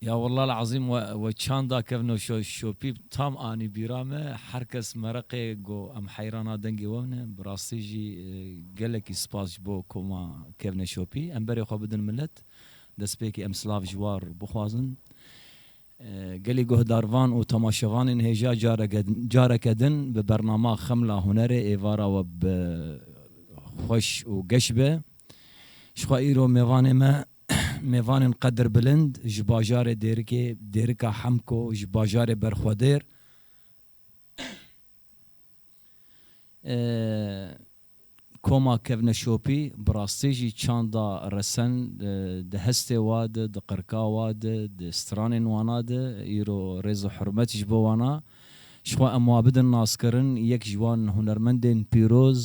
Ya wallah el azim we çanda kevno şopî tam anî bîra me her kes mereqê go em heyrana dengê we ne bi rastî jî gelekî spas ji bo ku ma kevne şopî em berê xwe bidin milet destpêkê em silav ji war bixwazin gelê guhdarvan û temaşevanên hêja careke careke din bi bernama xemla hunerê êvara we bi xweş û geş be jixwe îro mêvanê me Mêvanên qedir bilind ji bajarê Dêrikê, Dêrika Hemko, ji bajarê Berxwedêr, Koma Kevneşopî bi rastî jî çanda resen di hestê wa di, di qirka wa di, di stranên wana di, îro rêz û hurmet ji bo wan a. Ji xwe em wa bidin naskirin, yek ji wan hunermendên pîroz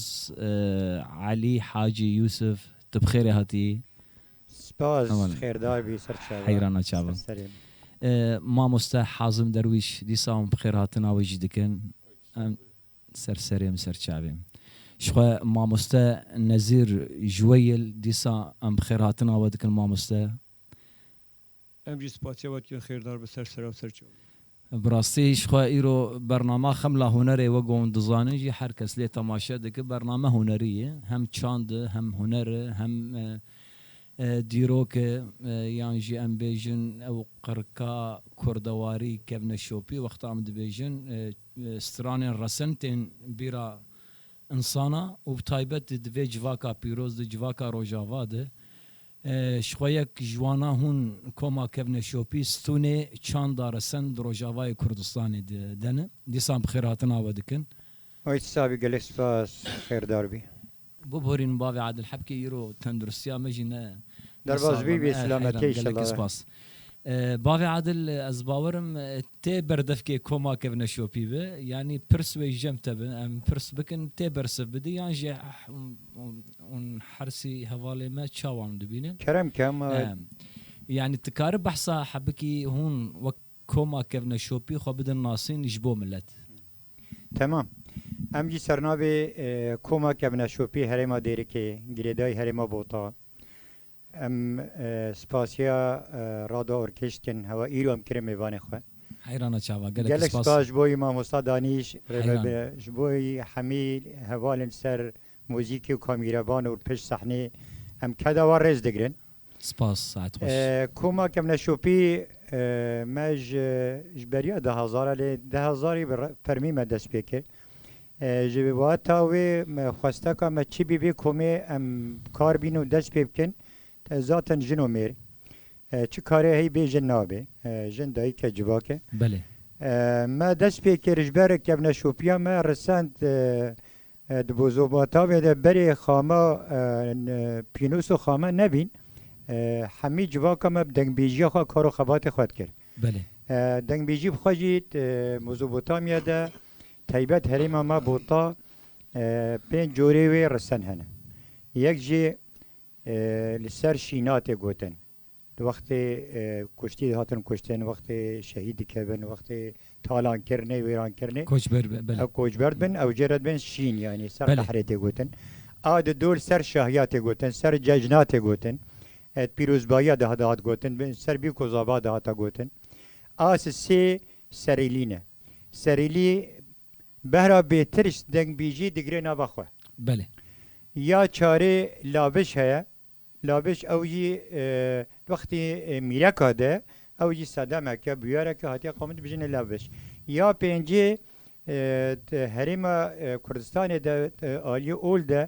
Elî Hacî Yûsif Tu bi xêrê hatî. Spas, xêr day bî ser çavan. Heyrana çavan. Ser serê min. Mamoste Hazim Derwîş, dîsa hûn bi xêr hatina wê jî dikin. Em ser serê min, ser çavê min. Ji xwe Mamoste Nezîr Juweyil, dîsa em bi xêr hatina we dikin mamoste. Em jî spasiya we dikin xêrdar bi ser sera serçe. Bi rastî ji xwe îro bernama Xemla Hunerê we gon dizanin jî her kes lê temaşe dike bername hunerî ye hem çand e hem huner e hem dîrok e yan jî em bêjin ew qirika kurdewarî kevne şopî wexta em dibêjin stranên resin tên bîra Însana û bi taybet di vê civaka pîroz de, civaka Rojava de ji xwe yek ji wana hûn koma kevne şopî, stûnê çanda resen di Rojavayê Kurdistanê de de ne. Dîsan bi xêrhatina we dikin. Ay ti savî gelek spas xêrdar bî. Bibûrîn bavê Adil Hebkê îro tenduristiya me jî ne ne Derbas saz bî e me vê e heyran silametê gelekî inşellah. spas. Bavê Adil, ez bawer im tê berdevkê koma kevne şopî bi, yanî pirs wê jem te bi, em pirs bikin tê bersiv bidî yan jî hûn hersî hevalê me çawan dibînin. Kerem Kemal. Yanî ti kari behsa hebikî hûn wek koma kevne şopî xwe bidin nasîn ji bo milet. Temam. Em jî sernavê koma kevne şopî herêma Dêrikê, girêdayî herêma Bota. Em spasiya Rado Orkêş dikin. Hewa îro em kire mêvanê xwe. Heyrana çava. Gelek spas. Gelek spas ji bo Mamosta Danîş rêvebir e. Ji bo hemî hevalên ser muzîkê û kamîrevan û pişt sehnê em keda wan rêz digirin. Spas. Saet xweş. Koma Kemneşopî me ji beriya dehezar e lê dehezarî bi fermî me dest pê kir. Ji wata wê xwesteka me çi bîbê komê em kar bîn û dest pê bikin te zaten jin û mêr çi karê hey bê jin nabê jin dayik e civak e me dest pê kir ji ber kevneşopiya me risend di bozobatavê de berê xama pînûs û xama nebîn hemî civaka me bi dengbêjiya xwe kar û xebatê xwe dikir. Belê. Dengbêjî bi xwe jî Mezopotamya de taybet herêma me Bota pênc corê wê risten hene. Yek jî li ser şîna tê gotin. Di wextê kuştî dihatin kuştin, wextê şehîd dikevin, wextê talankirinê, wêrankirinê ew koçber dibin, ew jê re dibin şîn yanî ser qehrê tê gotin. A di dol ser şahiya tê gotin, ser cejna tê gotin. Di pîrozbayiya de dihat gotin, bi ser vî ku zava dihata gotin, as sê serîlî ne. Serîlî behra bêtirs dengbîjî digire nava xwe. Belê. Ya çarê laviş heye. Laviş ew jî wextî mîreka de ew jî sedemek e, bûyerek e hatiye qewimî dibijine laviş. Ya pêncî di herêma Kurdistanê de aliyê ol de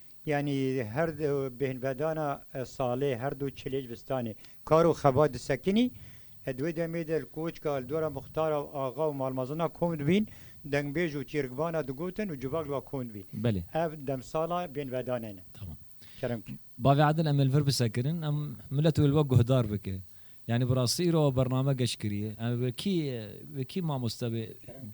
Yanî her du bêhnvedana salê, her du çilêj vistanê kar û xebat disekinî. Di wê demê de li Koçka li dora Muxtara û Axa û malmezina kom dibîn, dengbêj û çîrikvana digotin û civak li wan kom dibîn. Belê. Ev demsala bêhnvedane ne. Tamam. Kerem kî. Bavê Edil em ê li vir bisekirin, em milet wê li we guhdar bike. Yanî bi rastî îro ew bername geş kiriye. Em ê wekî wekî mamoste bê. Kerem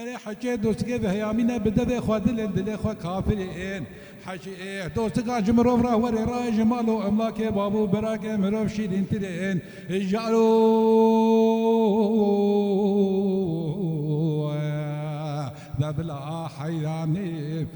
Erê heke dostikê viheyamîne bi devê xwe dilên dilê xwe kafirî ên. Hecî êh dostikan ji mirov re werê rayê ji mal û emlakê bav û birakê mirov şîrîntir ên ji ero we bila heyranî.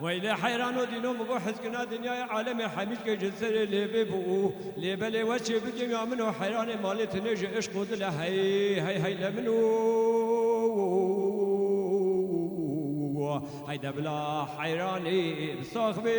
Weylê heyran o dîno min got hizkirina dinyayê alemê hemîlkê ji serê lêvê bû û lê belê we çê bigêmiya min o heyranê malê tinê ji îşq û dile hey hey hey le min û hey de bila heyranê bi sax bê.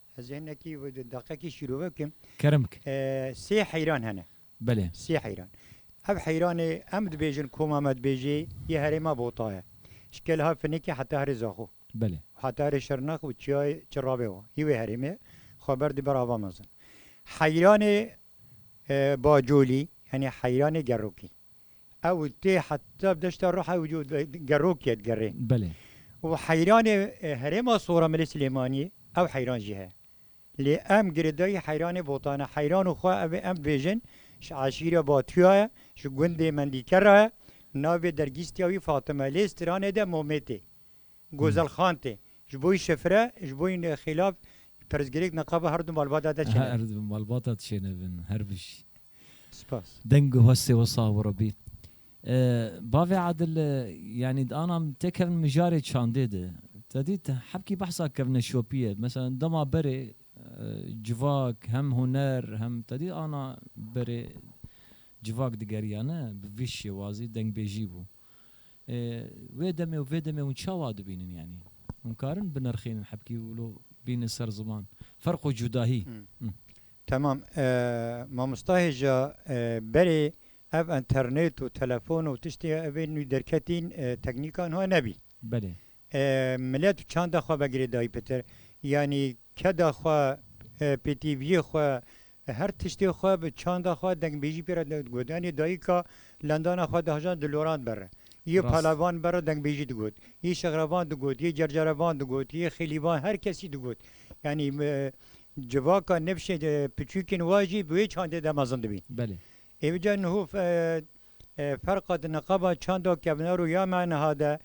Ez hinekî deqekî şîrove bikim. Kerem bike. Sê heyran hene. Belê. Sê heyran. Ev heyranê em dibêjin koma me dibêjê yê herêma Bota ye. Ji Keleha Finikê heta herê Zaxo. Belê. Heta herê Şirnex û çiyayê Çirravê wa. Hî wê herêmê ye. Xwe ber dî ber ava mezin. Heyranê Bacolî, yanî heyranê Gerokî. Ew tê heta deşta Ruha ew jo gerokê digerê. Belê. Û heyranê herêma Soramilê Silêmaniyê ew heyran jî heye. Lê em girêdayî heyranê Botan e. Heyran û xwe ev ê em bibêjin ji eşîra Batuya ye, ji gundê Mendîkera ye. Navê dergîstiya wî Fatime ye. Lê stranê de Mometê. Gozel Xan tê. Ji bo yî şefire, ji bo yî xêlab pirsgirêk neqabe her du malbata de çêne bin. Her du malbata de çêne bin. Her bijî. Spas. Deng û hestê we sax bo Rebî. Bavê Adil, yanî di ana min tê kevin mijarê çandê de. Te dît hebkî behsa kevine şopî ye. Meselan dema berê civak hem huner hem te dît ana berê civak digeriyane bi vî şêwazî dengbêjî bû. Wê demê û vê demê hûn çawa dibînin yanî? Hûn karin binirxînin hebkî û lo bînin ser ziman? Ferq û cudahî. Temam. Mamosta hêja berê ev enternêt û telefon û tiştê ev ên nû derketîn teknîkan hebnebî. Belê. Milet çanda xwe vegirê dayî pitir. Yanî keda xwe, pêtîviyê xwe, her tiştê xwe bi çanda xwe dengbêjî pê re digot. Yanî dayîka lendana xwe dihejand di loran de re. Yê palevan de re dengbêjî digot. Yê şixrevan digot, yê cercerevan digot, yê xêlîvan her kesî digot. Yanî civaka nifşê piçûkên wan jî bi wê çandê de mezin dibîn. Belê. Êvica niho Ferqa di niqaba çanda kevnar û ya me niha de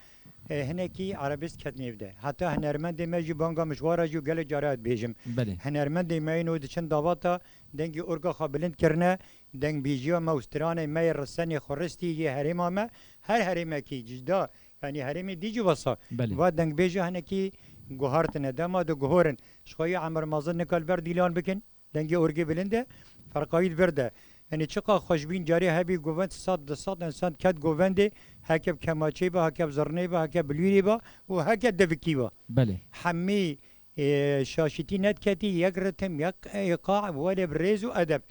hinekî erebîsk ket nêv de. Heta hinermendê me jî banga mijwara jî û gelek care ez dibêjim. Hinermendê me yên û di çend davata dengê orga xwe bilind kirine, dengbêjiya me û stranê me yê risenê xweristî yê herêma me, her herêmekî cîda yanî herêmê dî jî wesa va dengbêja hinekî guhartine. Dema diguhorin ji xwe yê Emir Mazin nika li ber dîlan bikin. Dengê orgê bilind e, ferqayîd gird e. Yanî çiqas xweşbîn carê hebî govend sed di sed însan ket govendê, heke bi kemaçeyê be, heke bi zirneyê be, heke bi lûrê be û heke devikî be. Belê. Hemî şaşîtî nediketî yek ritim, yek îqa welê bi rêz û edeb.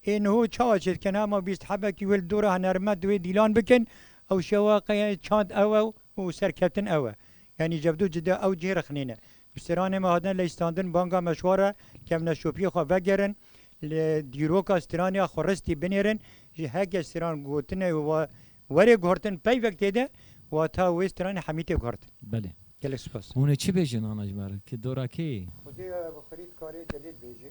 Ê niho çawa çê dikin? Hema bîst hebekî wê li dora hunermend û wê dîlan bikin. Ew şewa qey çand ew e û serkeftin ew e. Yanî cevdû cida ew cihê rixnê ne. Strîlanê me hatine lejistandin banga me ji xwe re kevneşopiyê xwe vegerin, li dîroka strîlanê ya xweristî binêrin, ji heke strîlan gotine û werê guhertin peyvek têde, wata wê strîlanê hemî tê guhertin. Belê. Gelek spas. Hûn ê çi bêjin ana ji me re, ki dora kê yê? Xwedê bi xwedî dikarê delîl bêjê.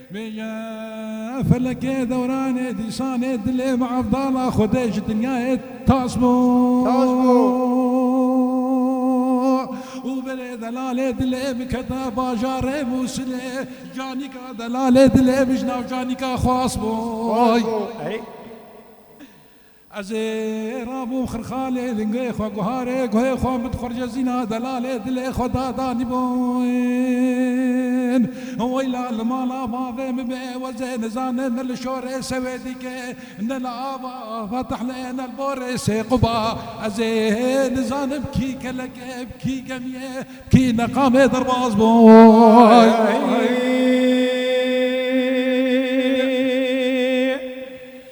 Bêje, Felekê dewranê dîsanê dilê bi evdala Xwedê ji dinyayê tas bû û berê delalê dilê bikete bajarê Mûsilê. Canîka delalê dilê bi ji navcanîka Xwas bû. Ez ê rabûm Xirxalê, lingê xwe guharê, guhê xwe min xurcezîna delalê, dilê xwe da danî bin. Weyla li mala bavê min be, ez ê nizanim ne li şorê sewê dîkê, ne li ava Fetihlê, ne li borê sê Quba. Ez ê nizanim kî kelek e, bi kî gemiyê, bi kî neqamê derbas bûm.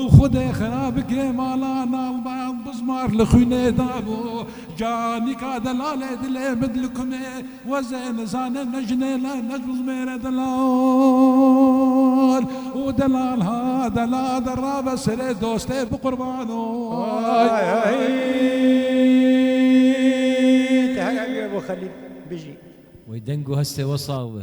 Û Xwedê xera bike mala nalban bizmar li xwînê da bo ca nîka delalê dilê min li kumê wezê nizane ne jinê ne ne jizmêre delal û delal ha delal de rabe serê dostê bi qurban oy. Wê deng û hestê we sax be.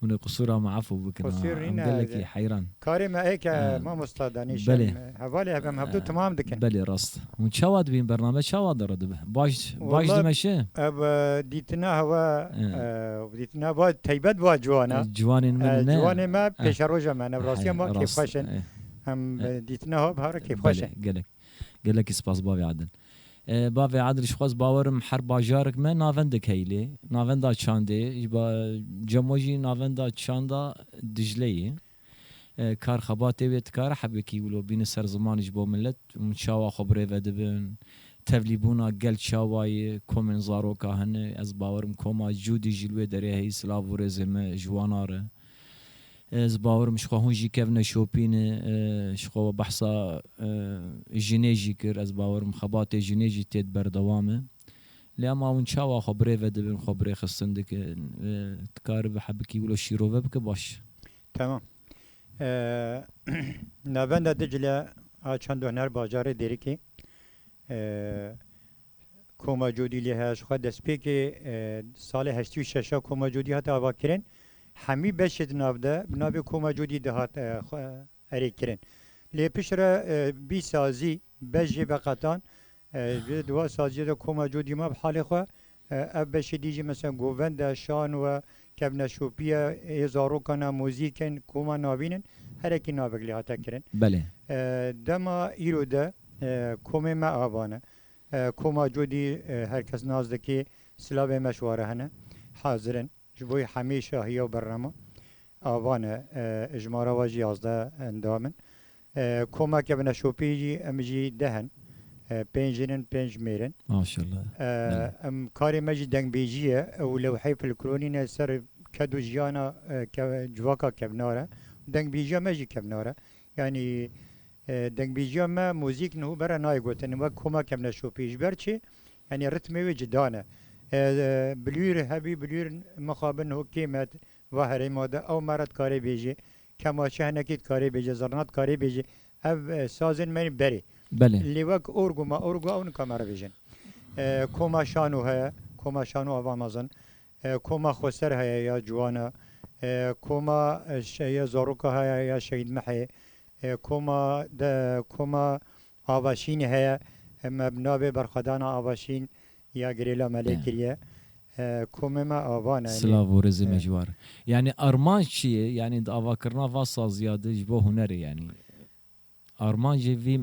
Hûn ê qisûra me efû bikin ha. Em gelekî heyran. Karê me ê ke mamosta danîşin hevalê hev em hevdu timam dikin. Belê rast. Hûn çawa dibîn bername çawa dire dibe. Baş baş dimeşe. Ev dîtina hewa dîtina va teybet va ciwan e. Ciwanên me ne. Ciwanê me pêşeroja me ne rastiya me kêfxweş in. Em dîtina hev hare kêfxweş in. Gelek gelekî spas bavê Adil. Bavê Adil Şixwaz bawer im her bajarik me navendek heye lê navenda Çandê ji bo Cemo jî navenda Çanda Dijle ye. Kar xebatê wê dikare hebekî wilo bîne ser zimanê ji bo milet hûn çawa xwe birêve dibin? Tevlîbûna gel çawa ye? Komên zaroka hene? Ez bawer im koma Cûdî jî li wê derê heye silav û rêzê me ji wan a re. Ez bawer im ji xwe hûn jî kevne şopîn ji xwe we behsa jinê jî kir ez bawer im xebatê jinê jî têd berdewam e lê ema hûn çawa xwe birê vedibin xwe birê xistin dikin dikaribi hebikî wilo şîrove bike baş. Tamam. Navenda Dicle a çend huner bajarê Dêrikê Koma Codî lê heye ji xwe destpêkê salê heştî û şeş a Koma Codî hat avakirin. Hemî beşê di nav de bi navê Koma Codî dihat erê kirin. Lê pişt re bîst sazî beş jê veqetan. Ji di wan saziye de Koma Codî ma bi halê xwe. Ev beşê dî jî mesela govend e, şano e, kevneşopî ye, ê zarokan e, muzîk in, koma navîn in. Herekî navek lê hate kirin. Belê. Dema îro de komê me ava ne. Koma Cudî her kes nas dike, silavên me şware hene, hazir in. Ji bo wî hemî şahiya û bernama avan e. Ji mala we jî yazdeh endam in. Koma ke bi neşopî jî em jî deh in. Pênc jin in, pênc mêr in. Em karê me jî dengbêjî ye û lewheyê filkronî ne ser ked û jiyana civaka kevnar e. Dengbêjiya me jî kevnar e. Yanî dengbîjiya me muzîk niho bere nayê gotin wek koma kevneşopî. Ji ber çi? Yanî ritmê wê cida ne. Bilwîr hebî bilwîr mixabi niho kê me va herêma de ew me re dikarê bêjê, kemaşe hinekî dikarê bêjê, zirna dikarê bêjê. Ev sazên me yên berê. Lê wek orgo ma orgo ew nika me re bêjin. Koma şano heye, koma şano ava mezin. Koma Xweser heye ya ciwan e, koma Şehiya Zaroka heye ya Şehîd Mihê, koma koma Avaşînê heye, me bi navê Berxwedana Avaşîn ya Girêla Melê kiriye. Komê me avan e. Silav û rizê me ji war. Yanî armanc çi ye? Yanî di avakirina va saziya de ji bo hunerê yanî. Armancê vî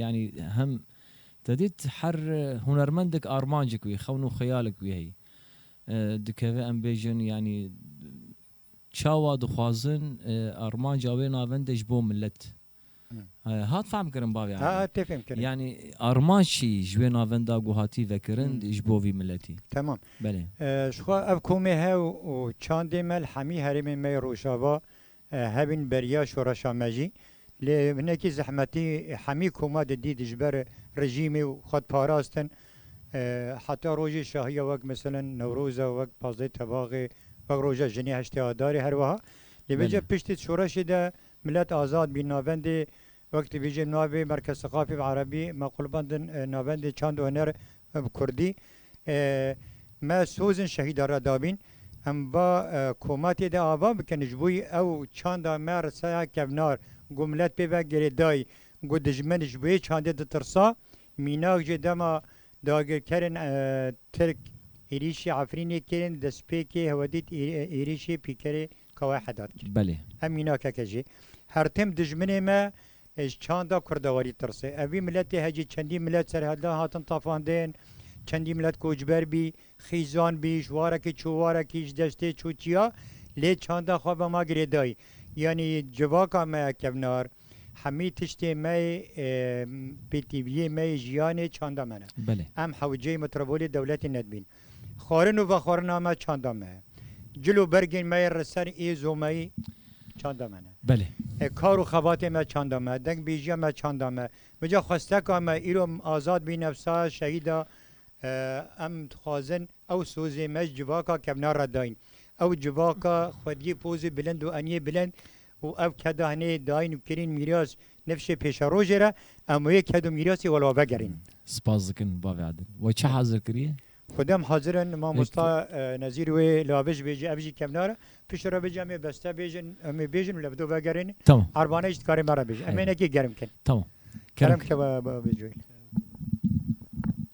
yanî hem te dît her hunermendek armancek wî xewn û xeyalek wî heyî dikeve em bêjin yanî çawa dixwazin armanca wê navende ji bo milet hat fehm kirin bavê Eda. Ha tê fêm kirin. Yanî armanc çî ji wê navenda ku hatî vekirin ji bo vî miletî. Temam. Belê. Jixwe ev komê hew û çandê me li hemî herêmên me yê rojava Hevîn beriya şoreşa me jî. Lê hinekî zehmetî hemî koma di dît ji ber rejîmê û xwe diparastin. Heta rojê şahiya wek meselen Newroza, wek pazdehê Tevaxê, wek roja jinê heştê Adarê herweha. Lê vê cih piştî şoreşê de milet azad bî navendê Wek dibêje navê Merkez Seqafî bi Erebî, Mequlbandin Navendê Çand û Huner bi Kurdî, Me sozên şehîdan re dabîn. Em va komatê de ava bikin ji bo ew çanda me risaya kevnar ku milet pê ve girêdayî ku dijmin ji wê çandê ditirsa. Mînak jê dema dagirkerên Tirk êrîşî Efrînê kirin destpêkê hewedît êrîşê pîkerê Ka we hedat kir. Belê. Ev mînakeke jî her tim dijminê me ji çanda kurdewarî tirsê. Ev vî miletê hecî çendî milet serhedlan hatin tafandên, çendî milet koçber bî, xîzan bî, ji warekî çû warekî, ji deştê çû çiya lê çanda xwe ve ma girêdayî. Yanî civaka me kevnar, hemî tiştê me yê pêtîviyê me yê jiyanê çanda me ne. Belê. Em hewceyê metrobolê dewletê nedibîn. Xwarin û vexwarina me çanda me ye. Cil û bergên me yê re ser ê zomeyî çanda me ne. Belê. E kar û xebatê me çanda me, dengbêjiya me çanda me. Mija xwesteka me îro azad bî nefsa şehîd a. Em dixwazin ew sozê me ji civaka kevnar re dayîn. Ew civaka xwediyê pozê bilind û eniyê bilind û ev kedahnê dayîn û kirîn mîras nifşê pêşerojê re em wê ked û mîrasê wela vegerîn. Spas dikin bavê Adil. We çi hazir kiriye? Xwedem hazir in mamosta Nezîr wê la vij bêje ev jî kevnar e. Pişt re bêje em ê beste bêjin em ê bêjin û li do vegerîn. Tamam. Erbane jî dikarê me re bêje. Em ê nekê germ kin. Tamam. Kerem keve bêje.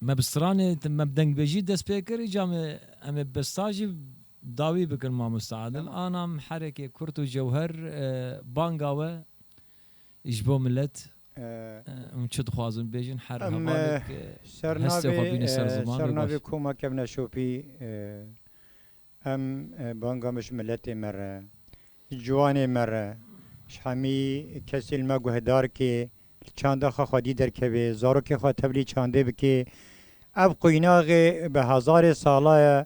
Me bi stranê me bi dengbêjî dest pê kir îcar me em ê bi stan jî dawî bikin mamoste Adil. Ana miherekê kurt û cewher banga we ji bo milet hûn çi dixwazin bêjin her hevalek hestê xwe bîne ser zimanê baş. Em li ser navê koma kevne şopî Em banga me ji miletê me re, ji ciwanê me re, ji hemî kesê li me guhdar kê, li çanda xwe xwedî derkevê, zarokê xwe tevlî çandê bikê. Ev quînaxê bi hezarê sala ye,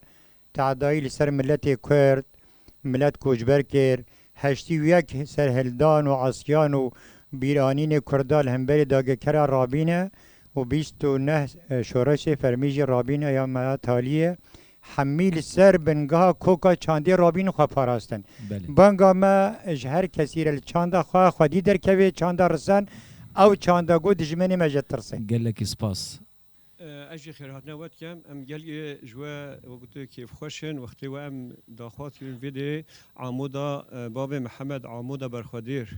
teedayî li ser miletê Kurd, milet koçber kir, Heştî û yek serhildan û esyan û bîranînê kurda li hemberî dagirkera rabîne û bîst û neh şoreşê fermî jî rabîne ya Meya Taliyê hemî li ser bingeha koka çandê rabîn û xwe parastin. Banga me ji her kesî re li çanda xwe xwedî derkevê, çanda risan ew çanda got dijmenê me ji tirse. Gelekî spas. Ez jî xêrhatine we dikim. Em gelê ji we wekî tu kêfxweş in. Wextê we em daxwaz kirin vê dê Amoda Bavê Mihemed Amoda Berxwedêr.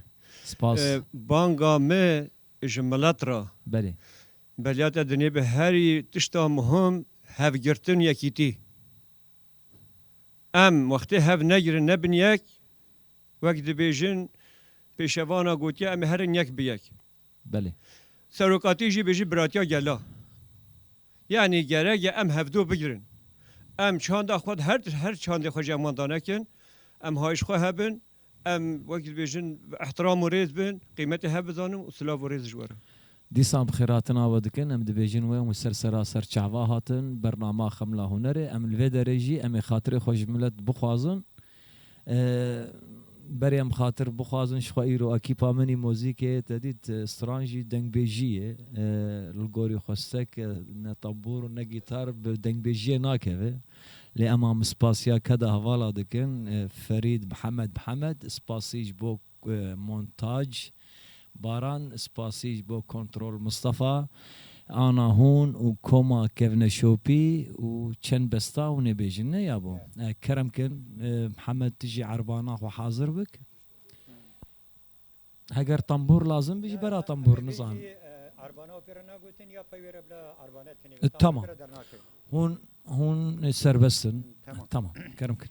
Spas. Banga me ji milet re. Belê. Beliya te dinêbe herî tişta muhim hevgirtin yekîtî. Em wextê hev negirin nebin yek, wek dibêjin pêşevana gotiye em ê herin yek bi yek. Belê. Serokatî jî bêjî biratiya gela. Yanî gerek e em hevdu bigirin. Em çanda xwe di her her çandê xwe jî em wan danekin. Em hayiş xwe hebin. Em wekî dibêjin îhtiram û rêz bin. Qîmetê hev bizanin û silav û rêz ji we re. Dîsan bi xêratina we dikin. Em dibêjin wê û ser seraser çava hatin bernama Xemla Hunerê. Em li vê derê jî em ê xatirê xwe ji milet bixwazin Berê em xatir bixwazin jixwe îro ekîpa min î mozîkê tedît stran jî dengbêjî ye. Li gorî xwestek ne tabûr û ne gîtar bi dengbêjiyê nakeve. Lê em a min spasiya keda hevala dikin Ferîd Mihemed Mihemed spasî ji bo Montaj, Baran Spasî ji bo Kontrol Mistefa, Ana Hûn û Koma kevne şopî û çend besta hûnê bêjin ne ya bo. Kerem kin Mihemed tu jî erbana xwe hazir bik. Heger tembûr lazim bî jî bera tembûr nizanim. Erbana opê re nagotin ya pey wê re bila erbana tenê. Tamam. Hûn hûn serbest in. Tamam. Kerem kin.